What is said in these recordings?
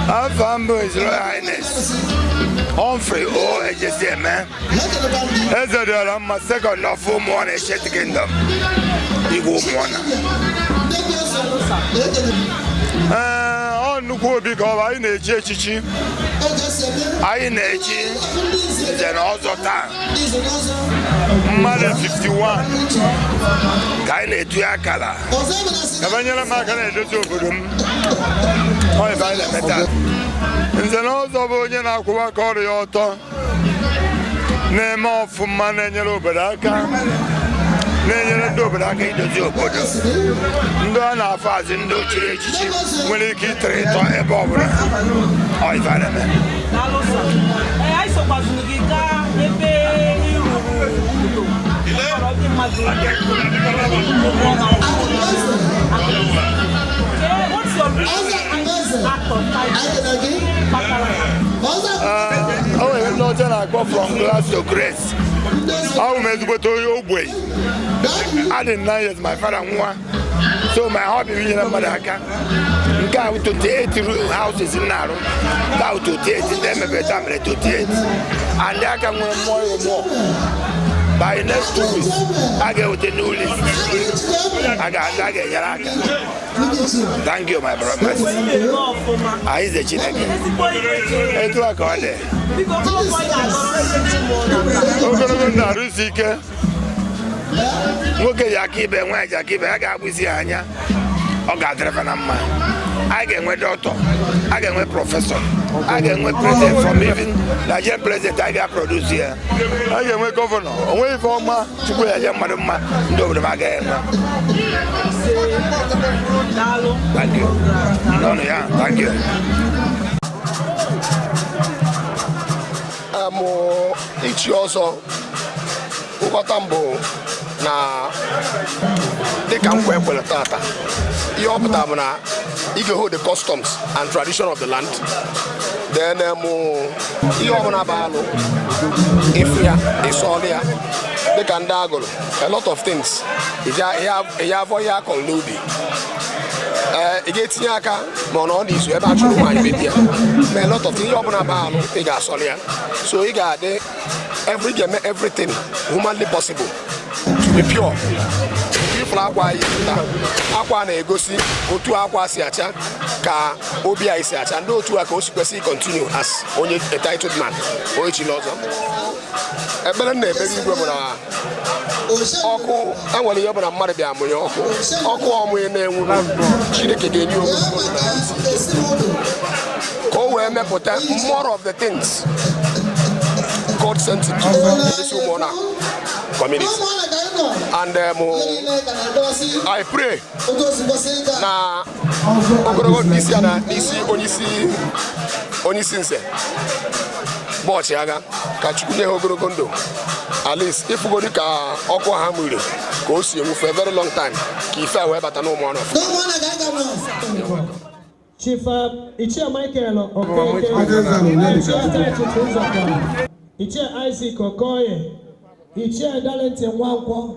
afa m bụ His Royal Highness Humphrey O Ejesieme Ezedịọramma sekọnd of ụmụọna Ancient Kingdom igwe ụmụọna ee ọ nnukwu obi ka ọ bụ anyị na-echi echichi anyị na-echi nze na ọzọ taa mmadụ 51 ka anyị na-etu ya akara ebe nyere m aka na-edozi obodo m nze na ọzọ bụ onye na-akwụwa aka ọrụ ya ọtọ na-eme ọfụma na-enyere obodo aka na-enyere ndị obodo aka idozi obodo ndị a na-afọ azị ndị e chiri echichi nwere ike ịtọrọ ịtọ ebe ọ bụla o nwere ndị ọcha na-akpọ from grass to grace abụ m ezigbote onye ogbenye adị m nine years my father nwụọ so my hobby bụ inyere mmadụ aka nke a bụ 28 houses m na-arụ nke a bụ 28 ndị emebe taa mere 28 and aka nwere mmụọ ịrụ more by next two weeks a ga-eweta new list a ga-enyere aka thank you my brother anyị ze chineke etu a ka ọ dị ogologo ndụ arụ isi ike nwoke ji aka ibe nwaanyị ji aka ibe ya ga-agbụzi ya anya ọ ga-adịrị fa na mma a ga-enwe dọkịta a ga-enwe prọfesọ a ga-enwe prezident from even Nigerian prezident a ga-aprodus ya a ga-enwe gọvanọ o nwe ife ọma chukwu ji eme mmadụ mma ndị obodo m agaghị enwe Thank you. No, no, yeah, thank you. em ichi ọzọ nghọta m bụ na dịka nkwa e kwere tata ihe ọ pụtara bụ na ị ga-hold the customs and tradition of the land then em, ihe ọbụla bụ alụ ịfụ ya ịsọlụ ya dịka ndị agụrụ a lot of things ị ya afọ ihe a kọrọ n'ubi ee ị ga-etinye aka ma ọ nọọ n'izu ebe a chụrụ nwaanyị mebi ya ma a lot of things ihe ọbụla bụ alụ ị ga-asọrọ ya so ị ga-adị ị ga-eme everything humanly possible to be pure ị fụrụ akwa e yi pụta akwa na-egosi otu akwa si acha ka obi anyị si acha and otu a ka o si kwesị continue as onye a titled man onye chiri ọzọ ekpere m na-ekpere igwe bụ na ọkụ enwere ihe ọbụla mmadụ bịa amụnye ọkụ ọkụ ọ mụnye na-enwu Chineke ga-enye onwe ka o wee mepụta more of the things God sent to this Ụmụọna community and um, I pray na ogologo nke isi ya na n'isi onyeisi onyeisi nze bụ ọchịagha ka chukwu nye ha ogologo ndụ at least ịfụgodi ka ọkụ ha mụre ka o si enwu for a very long time ka ife wee bata n'Ụmụọna Chief uh, Ichie Michael Okeke, Ichie Atachit Nzọkwa, Ichie Isaac Okoye, Ichie Darlington Nwankwo,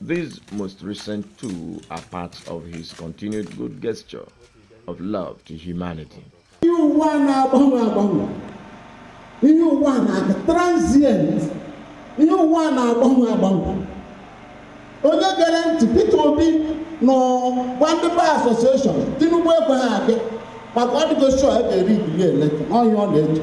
These most recent two are parts of his continued good gesture of love to humanity. ihe ụwa na-agba agba ihe ụwa na transient ihe ụwa na-agba agba onye gere ntị Peter Obi na-agwa ndị bar association Tinubu ekweghị abịa maka ọ dịgo sure ebe eri ibili eleta n'ọhịa ọ na-eche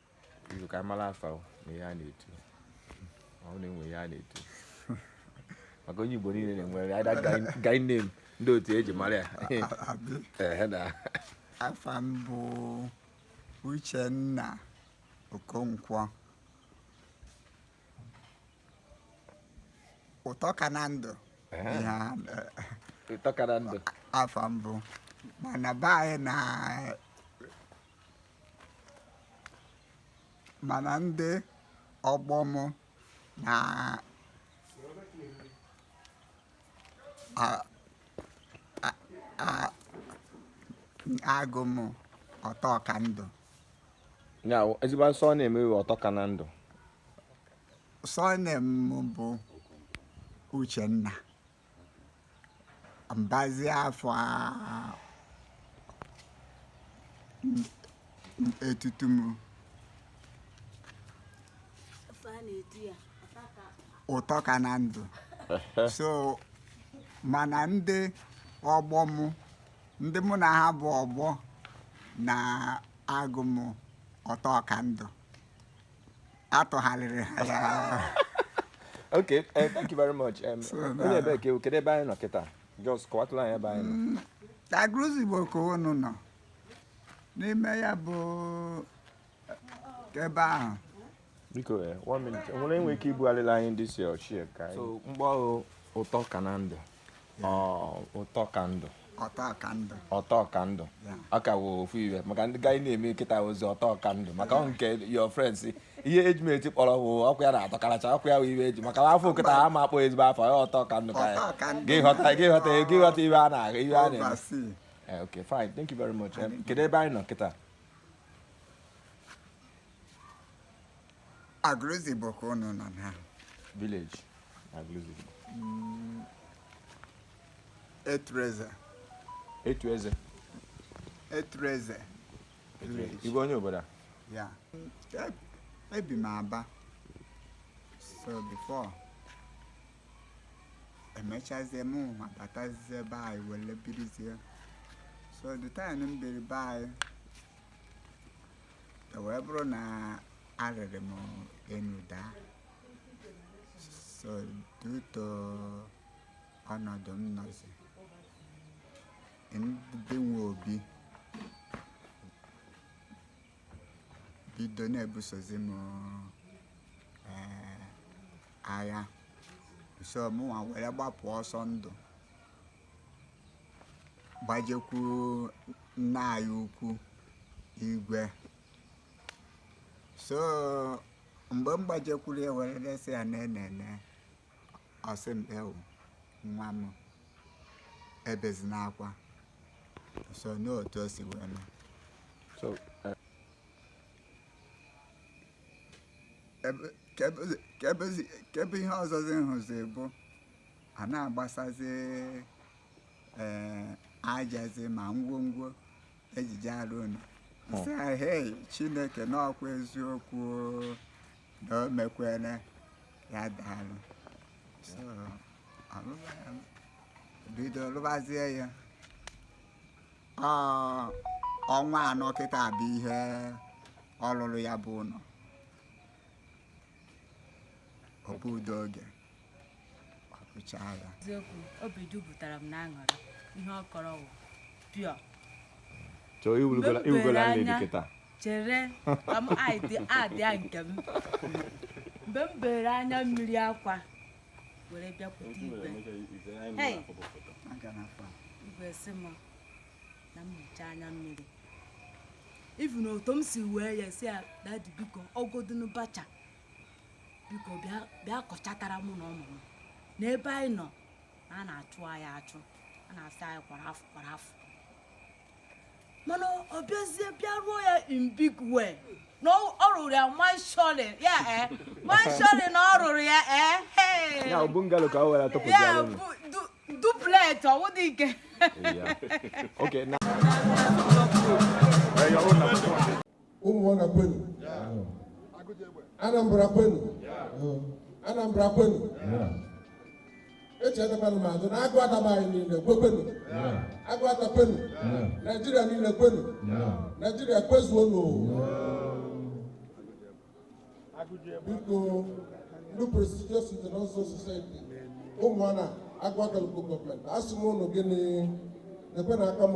Izu ka mara afa o, na ihe a na-etu ọ na-enwe ihe a na-etu maka onye Igbo niile na-enwere ada guy name ndị otu eji mara ya Ehe na afa m bụ Uchenna Okonkwo ụtọ ka na ndụ Ehe. ihe a na- ụtọ ka na ndụ afa m bụ mana be anyị na mana ndị ọgbọ m na a- a- a- agụ m ụtọ ka ndụ ya wụ ezigbo asụsụ ọ na-eme iwe ụtọ ka na ndụ so name m bụ Uchenna m bazi afa etutu m ụtọ ka na ndụ so mana ndị ọgbọ m ndị mụ na ha bụ ọgbọ na agụ m ụtọ ka ndụ atụgharịrị ha ya okay eh, thank you very much Em, So, onye na- ebe ka ewu kedu ebe anyị nọ kịta just kọwatụla anyị ebe anyị nọ Agụlụzigbo ka unu nọ n'ime ya bụ ebe ahụ biko eh, one minute nwere enwe ike ibugharịla anyị this oche ka anyị so mkpọ ụtọ ka na ndụ ụtọ ka ndụ ụtọ ka ndụ ụtọ ka ndụ ọ ka wụ ofu iwe maka ndị gaghị na-eme kịta ozi ụtọ ka ndụ maka ọ nke your friends ihe eji m eti kpọrọ wụ ọkụ ya na-atọkaracha ọkụ ya wụ iwe eji maka afọ kịta ha ma akpọ ezigbo afọ ya ụtọ ka ndụ ka ya gị ghọta gị ghọta gị ghọta iwe a na-ahụ iwe a na-eme eh, okay fine thank you very much eh, kedu ebe anyị nọ kịta Agụlụzigbo ka ụnụ nọ na village Agụlụzigbo Etuleze Etuleze Etuleze village ị bụ onye obodo a ya E- ebi m Aba so before emechazie m nwa batazie be anyị were birizie so the time m biri be anyị E wee bụrụ na arịrị m enu daa so due to ọnọdụ m nọzi ndị nwe obi bido na-ebusozi m eh, agha so mụnwa were gbapụ ọsọ ndụ gbajekwu nna anyị ukwu igwe so mgbe m gbajekwuru ya were resị ya na enene ọ sị m ewu nwa m ebezina akwa so na otu o si wee mee So, uh, Ebe- ka ebe- ka ebezi- ka ebe ihe ọzọzi m hụzi bụ a na-agbasazi ee ajazi ma ngwongwo eji je arụ ụnọ sị ha hei chineke na ọ kwa eziokwu o, na o mekwere ya daalụ so ọlụlụ ya bido lụbazie ya Ọ, ọnwa anọ kịta bụ ihe ọ lụrụ ya bụ ụlọ o gburo oge eziokwu obi jupụtara m n'aṅụrị ihe ọ kọrọ wụ pịọ chere adịa nke m mgbe m bere anya mmiri akwa were bịakwute igwe igwe sị m na m hichaa anya mmiri ị vụ na otu m si wee ya sị ya dadi biko ọgodunu bacha biko bịa kọchatara mụ na ụmụ m n'ebe anyị nọ na a na-achụ anyị achụ a na-asị anyị kwara fụọ kwara fụọ mana ọ bịazie bịa rụọ ya in big way na ọ rụrụ ya mansion ya e eh? mansion na ọ rụrụ ya e eh? ya bungalow ka ọ were atọpụ ya bụ duplex ọ wụ dike Okay, now. ụmụọna kwenu anambra kwenu anambra kwenu echetakwana m azụ na aguata be anyị niile kwekwenu aguata kwenu naijiria niile kwenu naijiria kwezuonu biko ndị prestigious nze na ọzọ society ụmụọna aguata local government asị m ụnụ gịnị nekwenụ aka m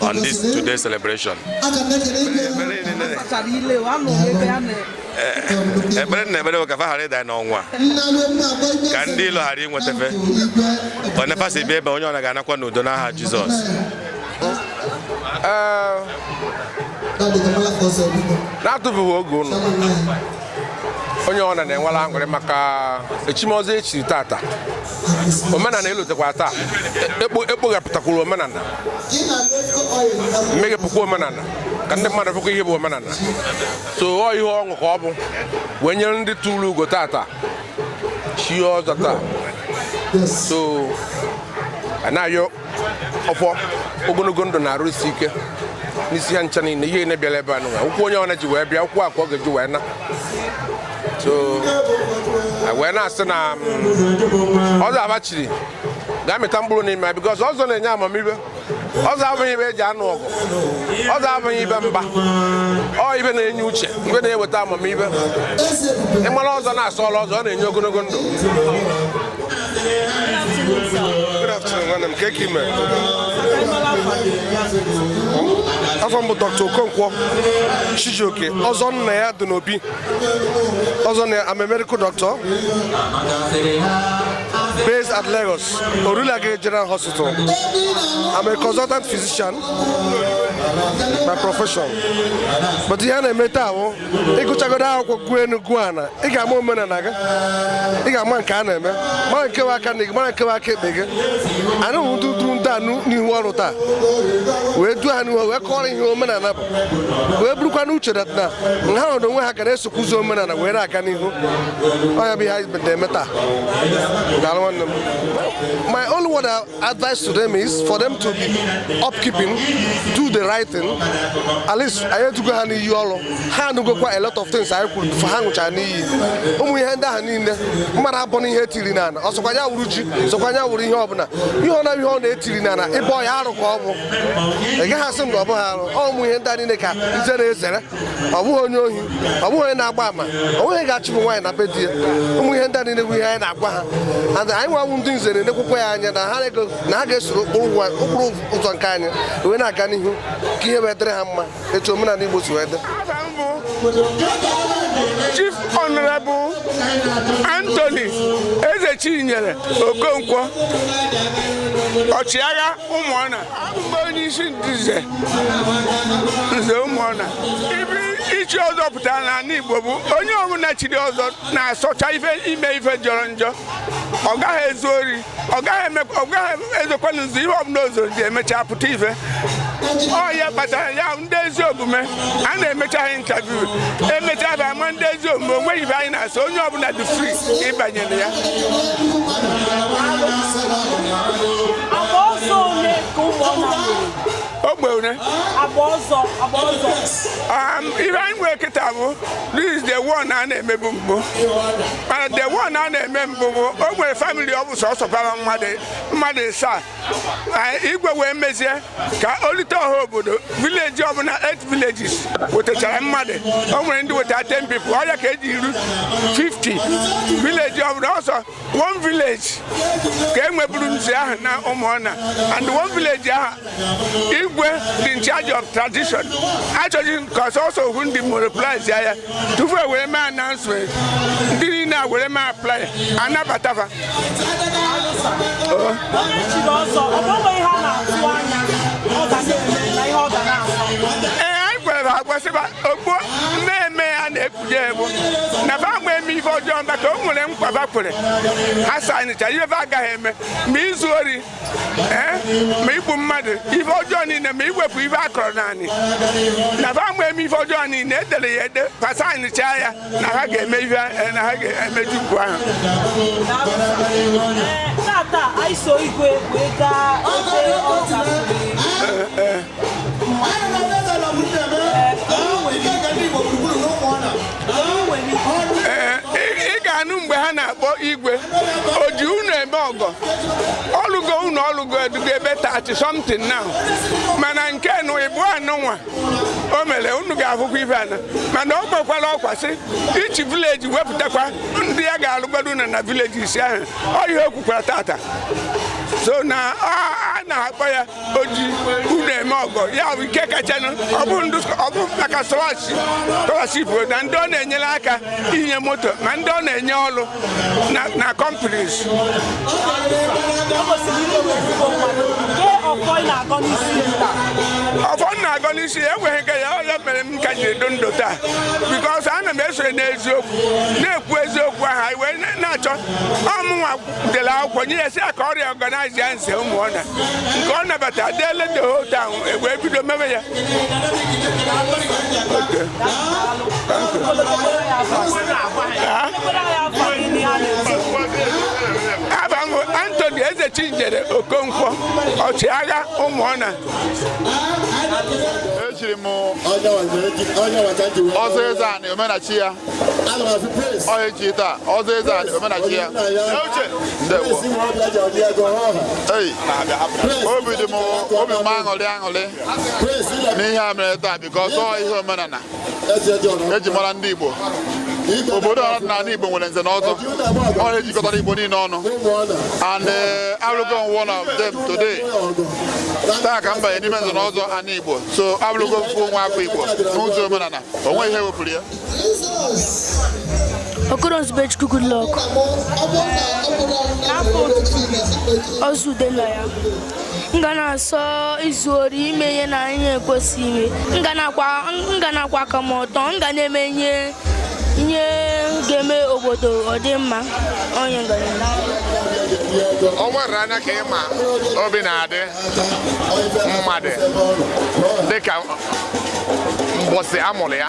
on this today's celebration. ekpere na ekpere ka fa ghara ịda n'ọnwụnwa ka ndị ilo ghara inweta fa one fa si bịa ebe onye ọna ga-anakwa n'udo n'aha Jizọs na-atụfughị oge ụnụ onye ọna na-enwere aṅụrị maka echim ọzọ e chiri tata omenala elotekwa taa ekpoghapụtakwuru omenala meghepụkwa omenala ka ndị mmadụ fụkwa ihe bụ omenala so ọ ihe ọṅụ ka ọ bụ wee nyere ndị turu ugo tata chie ọzọ taa so a na-agọ ọfọ ogologo ndụ na arụ isi ike n'isi ha ncha niile ihe na-ebịala ebe anụwa ụkwụ onye ọna ji wee bịa ụkwụ a ka ọ ga-eji wee na so wee na-asị na mm, ọzọ a ha chiri ga-amịta mkpụrụ n'ime ya because ọzọ na-enye amamibe ọzọ abụghị ibe eji anụ ọgụ ọzọ abụghị ibe mba ọ ibe na-enye uche ibe na-eweta amamibe ị mara ọzọ na-asọọla ọzọ ọ na-enye ogologo ndụ Good afternoon, nwanne m kee ke ị me afa m bụ Dr. Okonkwo Chijioke ọzọ nna ya dị n'obi ọzọ na I'm a medical doctor based at Lagos Orile Agege General Hospital I'm a consultant physician by profession but ihe a na-eme taa bụ ịgụchagodo akwụkwọ gụọ enu gụọ ana ị ga-ama omenala gị ị ga-ama nke a na-eme mara nke aka nni gị mara nke aka ekpe gị anyị bụ ndị duru ndị anụ n'ihu ọrụ taa wee duo ha n'ihu wee kọọrọ ha ihe omenala bụ wee burukwa n'uche na ha n'onwe ha ga na-esokwa ụzọ omenala wee na-aga n'ihu ọ ya bụ ihe anyị na-eme taa daalụ nwanne m Advice to them is for them to be upkeeping, do the right thing. At least anyị edugo ha n'iyi ọrụ ha anụgokwa a lot of things anyị kwuru before ha ṅụchaa n'iyi ụmụ ihe ndị ahụ niile mmadụ abọna ihe etiri n'ala ọ sọkwa ya wụrụ ji sọkwa ya wụrụ ihe ọbụla ihe ọ na ihe ọ na-etiri n'ala ịbọ ya arụ ka ọ bụ ị gaghị asị m na ọ bụghị arụ ọ ụmụ ihe ndị a niile ka nze na-ezere ọ bụghị onye ohi ọ bụghị onye na-agba ama ọ bụghị ga-achụpụ nwaanyị na be di ya ụmụ ihe ndị a niile wụ ihe anyị na-agwa ha and anyịnwa wụ ndị nze na-enekwukwa ya anya na ha ga-esoro ụkpụrụ ụzọ nke anyị wee na-aga n'ihu ka ihe wee dịrị ha mma etu omenala Igbo si wee dị. Afa m bụ Chief Honorable Anthony Ezechinyere Okonkwo Ọchịagha Ụmụọna abụ m onye isi ndị nze nze Ụmụọna ife ichi ọzọ pụtara n'ala Igbo bụ onye ọbụla chiri ọzọ na-asọcha ife ime ife jọrọ njọ ọ gaghị ezu ori ọ gaghị eme ọ gaghị ezokwanụ nzu ihe ọbụla o zoro ji emecha pụta ife ọ ya kpatara ya ndị ezi omume a na-emecha ha interview emecha ha ama ndị ezi omume onweghị ife anyị na-asọ onye ọbụla dị free ịbanye na ya ogbe one ife anyị nwere kịta bụ this the one a na-emebu mbụ mana the one a na-eme mbụ bụ o nwere family ọ bụ sọsọ bara mmadụ mmadụ ịsaa igwe wee mezie ka o lite ọha obodo village ọbụla 8 villages wetachara mmadụ o nwere ndị weta 10 people ọ ya ka eji iru 50 village ọbụla ọ sọ one village ka e nweburu nze ahụ na Ụmụọna and one village ahụ igwe dị in charge of tradition achọghị ka ọ sọsọ ohu ndị monopolize ya tupu e were mee announcement ndị niile a were mee apply anabata fa ee anyị kwere agwasị fa ọgbọ mmemme ya na-ekpude egbu na fa ama eme ife ọjọọ maka o nwere nkwa fa kwere ha signịcha ife fa agaghị eme ma izu ori ma igbu mmadụ ife ọjọọ niile ma iwepụ ife a kọrọ n'anị na fa ama eme ife ọjọọ niile edere ya ede fa signchaa ya na ha ga-eme ife eh, na ha ga-emeju ugwu ahụ eh, eh, ị ga-anụ mgbe ha na-akpọ igwe o ji ụnọ eme ọgọ ọ lụgo ụnọ ọ lụgo erugo ebe thirty something now mana nke n'ịbụa nụnwa o mere unu ga-ahụkwa ife ana mana ọ kpọkwara ọkwa sị each village wepụtakwa ndị ya ga-alụgodo na na village isii ahụ ọ ihe o kwukwara taata so na a na-akpọ ya o ji ụnọ eme ọgọ ya bụ nke kachanụ ọ bụ ndụ ọ bụ maka scholarship na ndị ọ na-enyere aka inye moto ma ndị ọ na-enye ọrụ na companies ọfọ m na-agọ n'isi ya enweghị nke ya ọ ya mere m ka ji dị ndụ taa because ana m esonye n'eziokwu na-ekwu eziokwu ahụ anyị wee na-achọ ọ mụnwa dere akwụkwọ nye ya sị ya ka ọ reorganize ya nze Umuona nke ọ nabata deele the whole town e wee bido mebe ya afa m bụ Anthony Eze Chinyere Okonkwo ọchịagha Umuona echiri m ọzọ Ezeana omenachi ya ọ echi taa ọzọ Ezeana omenachi ya ndewo obi dị m obi m aṅụrị aṅụrị n'ihe a mere taa because ọ ihe omenala e ji mara ndị Igbo obodo dị n'ala Igbo nwere nze na ọzọ ọ na-ejikọtara Igbo niile ọnụ and eh, abụrụgo m one of them today taa ka m banye n'ime nze na ọzọ ana Igbo so abụrụgo m full nwa afọ Igbo n'ụzọ omenala o nweghị ihe wepụrụ ya Okoro Nzubechukwu Goodluck n'afa otutu ọzọ ude nna ya m ga na-asọ izu ori ime ihe na ihe ekwesịghị ime m ga na-akwụ aka m ọtọ m ga na-eme ihe ihe ga-eme obodo ọ dị mma onye ngara o nwere anya ka ịma obi na-adị mmadụ dịka mbọsị a mụrụ ya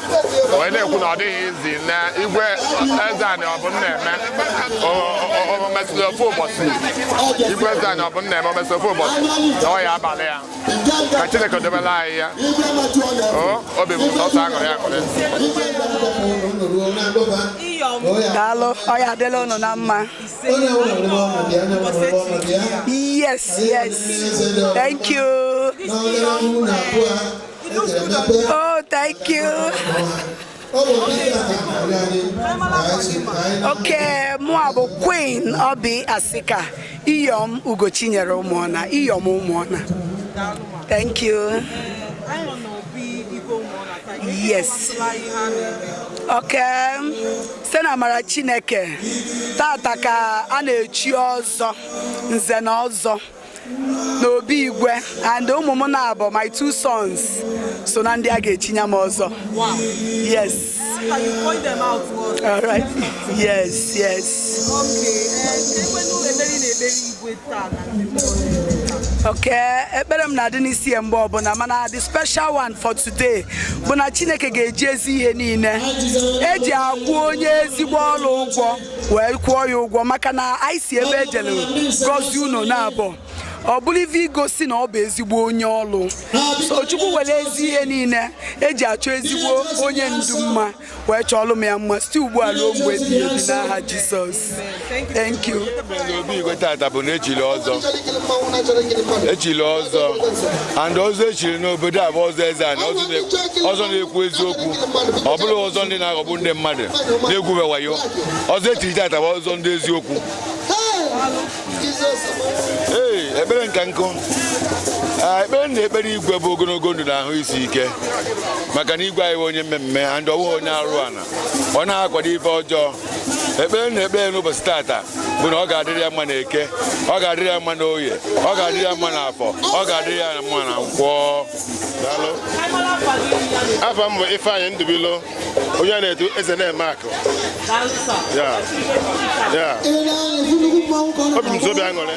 wee na-ekwu na ọ dịghị easy na igwe eze anyị ọ bụ nna eme omesịrị ofu ụbọchị igwe eze anyị ọ bụ nna eme omesịrị ofu ụbọchị na ọ ya abalị ya ka chineke dobela anyị ya obi bụ sọsọ aṅụrị aṅụrị daalụ ọ ya adịla unu na mma yes yes thank you Oh, thank you. Okay, mụ a bụ Queen Oby Asika, Iyom Ugochinyere Ụmụọna, Iyom Ụmụọna. Thank you. Yes. Okay. Site na amara Chineke, tata ka a na-echi ọzọ, nze na ọzọ. n'obi igwe and ụmụ m naabọ my two sons so na ndị a ga-echinya m ọzọ yes all right yes yes okay ekpere m na-adị n'isi ya mgbe ọbụla mana the special one for today bụ na chineke ga-eji ezi ihe niile eji akwụ onye ezigbo ọlụ ụgwọ wee kwụọ ya ụgwọ maka na anyị si ebe ejere gọzie unu na abụọ ọ bụrụ ife igosi na ọ bụ ezigbo onye ọlụ so chukwu were ezi ihe niile eji achọ ezigbo onye ndu mma wee chọọlụ m ya mma site ugbu a ruo mgbe ebighị ebi n'aha jizọs thank you obi igwe tata bụ na echiri ọzọ echiri ọzọ and ọzọ echiri n'obodo a bụ ọzọ Ezeani ọzọ na-ekwu eziokwu ọ bụrọ ọzọ ndị na-aghọgbu ndị mmadụ na-egwube wayo ọzọ echiri tata bụ ọzọ ndị eziokwu ee ekpere nka nkụ ekpere m na-ekpere igwe bụ ogologo ndụ na ahụ isi ike maka na igwe anyị wụ onye mmemme and ọwụghị onye arụ ana ọ na-akwado ife ọjọọ ekpere m na-ekpere n'ụbọchị tata bụ na ọ ga-adịrị ya mma na eke ọ ga-adịrị ya mma na oye ọ ga-adịrị ya mma na afọ ọ ga-adịrị ya mma na nkwọ afa m bụ Ifeanyị Ndụbụilo onye a na-etu eze na-eme akụ obi m sọ obi aṅụrị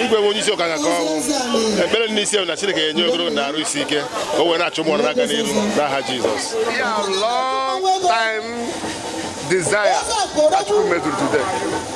igwe wụ onye isi ụka ga ka ọnwụ ekpere n'isi na Chineke ga-enye ogologo na arụ isi ike o wee na-achị Ụmụọna na-aga n'iru n'aha Jizọs desire that you made today.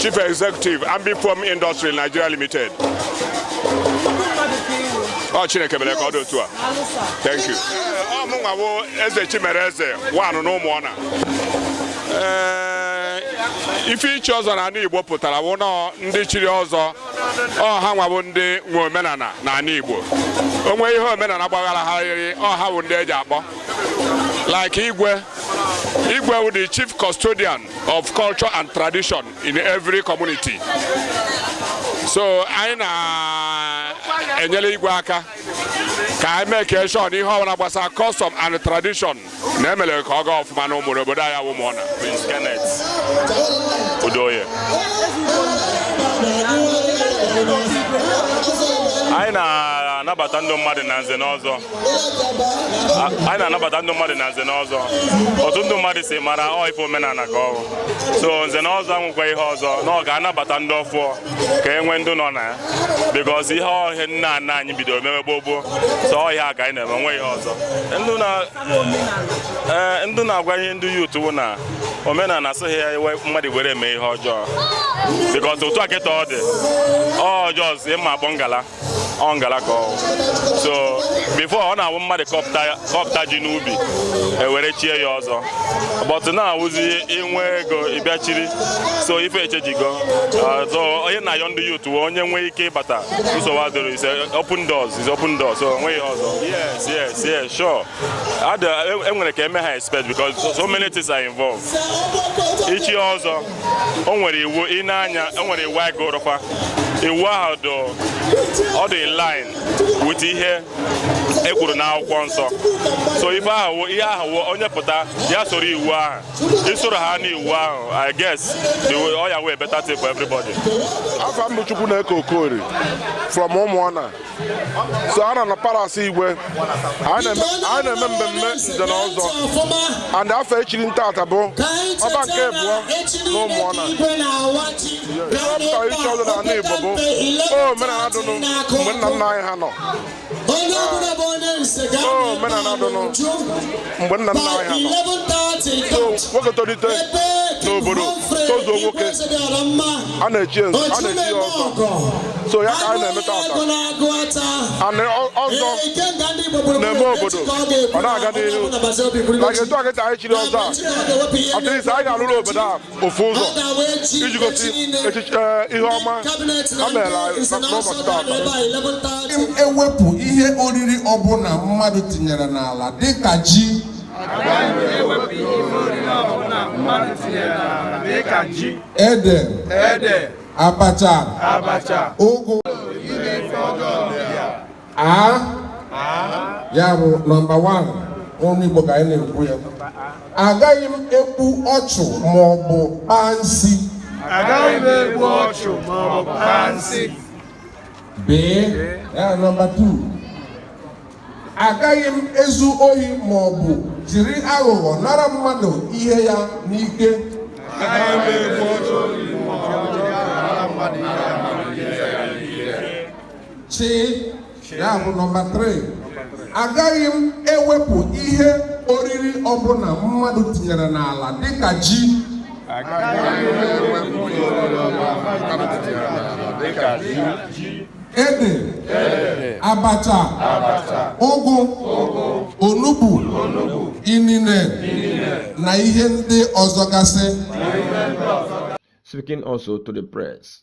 Chief Executive Ambifom Industry Nigeria Limited ọ oh, Chineke mere ka ọ dị otu a thank you ọ oh, mụnwa bụ eze Chimereze one na Ụmụọna eh, ife ichi ọzọ na ala Igbo pụtara bụ na ọ ndị chiri ọzọ ọ ha nwa bụ ndị nwe omenala na ala Igbo onwe ihe omenala gbaghara ha rịrị ọ ha bụ ndị eji akpọ like igwe igwe wụ the chief custodian of culture and tradition in every community so anyị na-enyere igwe aka ka anyị make sure na ihe ọbụla gbasara custom and tradition na emere ka ọ gaa ọfụma na ime obodo anyị a wụ Ụmụọna Prince Kenneth Udoye anyị na-anabata ndị mmadụ na nze na ọzọ anyị na-anabata ndị mmadụ na nze na ọzọ otu ndị mmadụ si mara ọ ife omenala ka ọ wụ so nze na ọzọ anwụkwa ihe ọzọ na ọ ga-anabata ndị ọfụọ ka e nwee ndị nọ na ya because ihe ọ ihe nna nna anyị bidoro mewe gboo gboo so ọ ihe a ka anyị na-eme nwe ihe ọzọ and na-agwa ihe ndị youth wụ na omenala asịghị ya iwe mmadụ were eme ihe ọjọọ because otu a kịta ọ dị ọjọọ ịma akpọ ngala ọ ngala ka ọ wụ so before ọ na-awụ mmadụ kọpụta ji n'ubi e were chie ya ọzọ but ọ na-awụzi i nwee ego ị bịa chiri so ife echenjigo so anyị na-ayọ ndị youth wee onye nwee ike ịbata nsogbu adịrị it's open doors it's open doors so o nweghị ọzọ yes yes yes sure e nwere e ka eme ha expect because so many things are involved ichi ọzọ o nwere iwu dị na ya o nwere iwu anyị gụrụ fa iwu ahụ dị ọ dị in line with ihe e kwuru n'akwụkwọ nsọ so ife ahụ ihe ahụ onye pụta ya soro iwu ahụ i soro ha n'iwu ahụ i guess the way ọ ya-awụ a better thing for everybody. afa m bụ Chukwuneke Okorie from Ụmụọna so a nọ na palace igwe anyị na-eme mmemme nze na ọzọ and afa e chiri m taata bụ ọba nke abụọ na Ụmụọna ihe ọ pụtara ichi ọzọ na ala igbo bụ omenala dụnụ mgbe nna nna anyị ha nọ omenala dụnụ mgbe nna nna anyị ha nọ nwoke tolite n'obodo tozuo nwoke a na-echi nzu a na-echi ya ọzọ so ya ka anyị na-eme taata and ọzọ na-eme obodo ọ na-aga n'ihu na etu a kịta anyị chiri ọzọ a at least anyị ga-alụrụ obodo a ofu ụzọ iji gosi echiche eh, ihe ọma ha mere n'ụbọchị taata e wepụ ihe oriri ọbụla mmadụ tinyere n'ala dịka ji ede abacha ụgụ a ya bụ nọmba 1 ọnụ Igbo ka anyị na-ekwu ya agaghị m egbu ọchụ ma ọ bụ kpaa nsi agaghị m egbu ọchụ ma ọ bụ kpaa nsi bee ya nọmba 2 agaghị m ezu ohi ma ọ bụ jiri aghụghọ nara mmadụ ihe ya n'ike chi ya bụ nọmba 3 agaghị m ewepụ ihe oriri ọbụla mmadụ tinyere n'ala dịka ji ede abacha ụgụ onugbu inine na ihe ndị ọzọ gasị Speaking also to the press,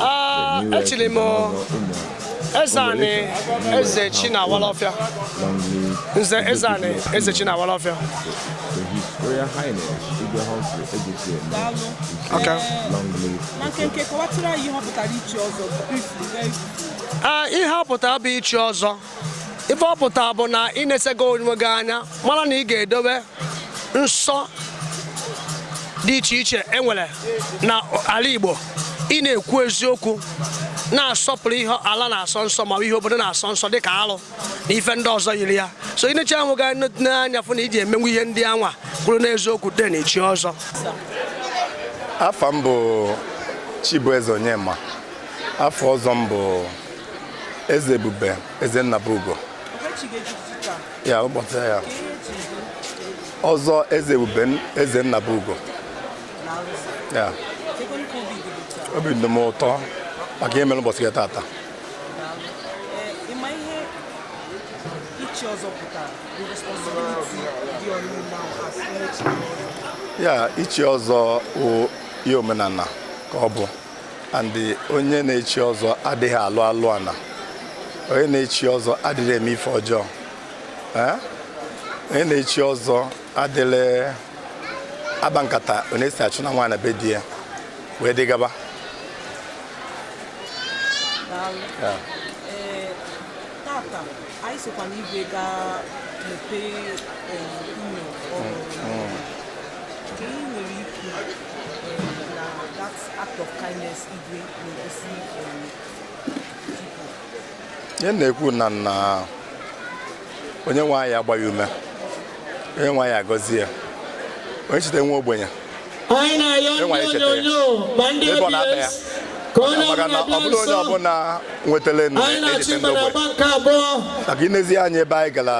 Ah, echiri m Ezeanị Ezechinawalọfịa nze Ezeanị Ezechinawalọfịa Okay. Ah, ihe ọ pụtara bụ ichi ọzọ ife ọ pụta bụ na ị nesịgo onwe gị anya mara na ị ga-edobe nsọ dị iche iche enwere na ala Igbo ị na-ekwu eziokwu na-asọpụrụ ihe ala na-asọ nsọ ma ihe obodo na-asọ nsọ dịka alụ na ife ndị ọzọ yiri ya so ị nechaa onwe gị anya fụ na iji emenwu ihe ndị anwa kwuru n'eziokwu then i chie ọzọ afa m bụ Chibueze Onyema afa ọzọ m bụ Eze Ebube Eze Nnabugo ya ụbọchị ya ọzọ Eze Ebube Eze Nnabugo ya obi dị m ụtọ maka ihe mere ụbọchị tata ya ichi ọzọ wụ ihe omenala ka ọ bụ and onye na-echi ọzọ adịghị alụ alụ ana onye na-echi ọzọ adịghị eme ife ọjọọ eh? onye na-echi ọzọ adịghị agba nkata onye si achụna nwaanyị na be di ya wee dị gaba eh, tata anyị sịkwa na igwe ga-emepe eh, ụlọ ọhụrụ ihe na-ekwu na nna onye nwe anyị agbaa ya ume onye nwe anyị agọzie ya onye cheta nwa ogbenye anyị na-ayọ ndị onyonyo ma ndị obs ka onye ọbụla onye ọbụla nwetara echeta ndị ogbenye maka inezi anya ebe anyị gara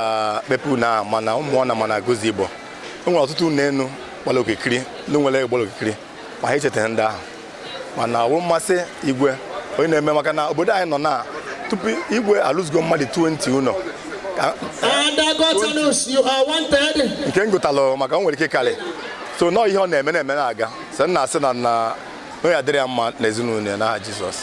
kpepu na ma na Umuona ma na Aguluzigbo o nwere ọtụtụ ụlọ elu gbara okirikiri ndị nwere ego gbara okirikiri ma ha echetaghị ndị ahụ mana ọ bụ mmasị igwe onye na-eme maka na obodo anyị nọ na tupu igwe alụzigo mmadụ 20 ụlọ nke m gụtalụ maka o nwere ike karị so nọ ihe ọ na-eme na-eme na-aga so na-asị na ya dịrị ya mma na ezinụlọ ya n'aha Jizọs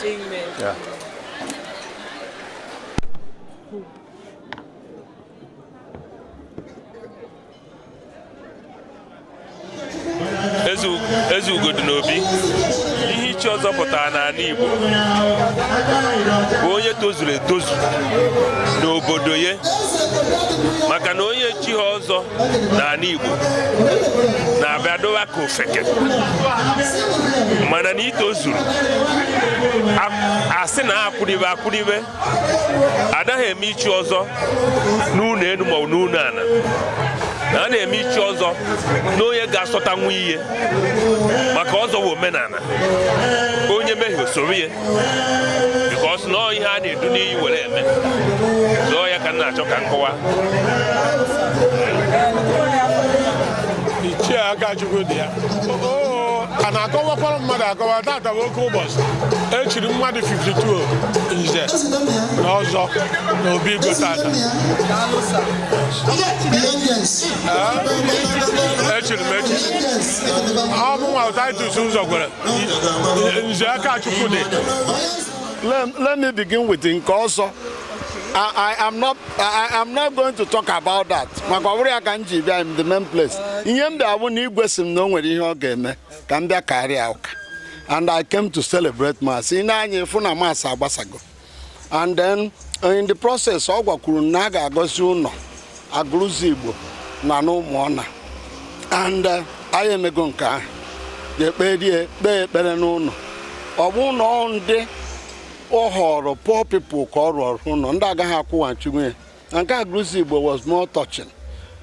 eze ugo dị n'obi ihe ichi ọzọ pụtara n'ala Igbo bụ onye tozuru etozu n'obodo ya maka na onye echighị ọzọ n'ala Igbo na-abịa dowa ka ofeke mana na itozuru asị na akwụribe akwụribe adaghị eme ichi ọzọ n'ụlọ elu maọbụ n'ụlọ ala a na-eme ichi ọzọ na onye ga-asọtanwu ihe maka ọzọ bụ omenala onye mehie o soro ya because na ọ ihe a na-edu n'iyi were eme so ọ ya ka m na-achọ ka m kọwa ichie Akachukwu dị ya a na-akọwakwara mmadụ akọwa tata bụ oke ụbọchị echiri mmadụ 52 nze na ọzọ na obi igwe tata echiri m echichi ọ bụ mụwa Titus ụzọ gwere nze Akachukwu dị let me begin with nke ọzọ I am not going to talk about that maka ọ bụrọ ya ka m ji bịa in the main place ihe m bịa bụ na igwe si m na o nwere ihe ọ ga-eme ka m bịa kaara ya ụka and I came to celebrate mass i nee anya ị fụ na mass agbasago and then uh, in the process ọ gwakwuru m na a ga-agọzi ụlọ Aguluzigbo na n'Umuona and uh, anyị emego nke ahụ kpee ekpere n'ụlọ ọ bụ ụlọ ndị ọ họrọ poor people ka ọ rụọrọ ụlọ ndị agaghị akwụghachinwu ya na nke Aguluzigbo was more touching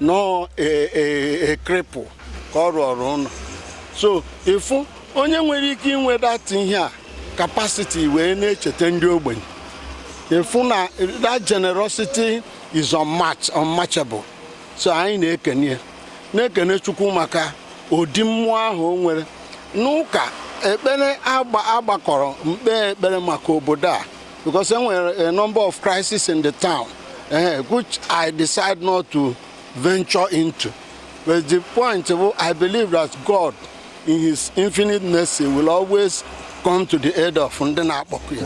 nọ a cripple ka ọ rụọrọ ụlọ so ịfụ onye nwere ike inwe that ihe a capacity wee na-echeta ndị ogbenye ịfụ na that generosity is unmatchable so anyị na-ekene ya na-ekene Chukwu maka ụdị mmụọ ahụ o nwere n'ụka ekpere a gbakọrọ kpee ekpere maka obodo a because e nwere a number of crises in the town eh, which I decide not to venture into but the point bụ I believe that God In his infinite mercy will always come to the aid of ndị na-akpọku ya.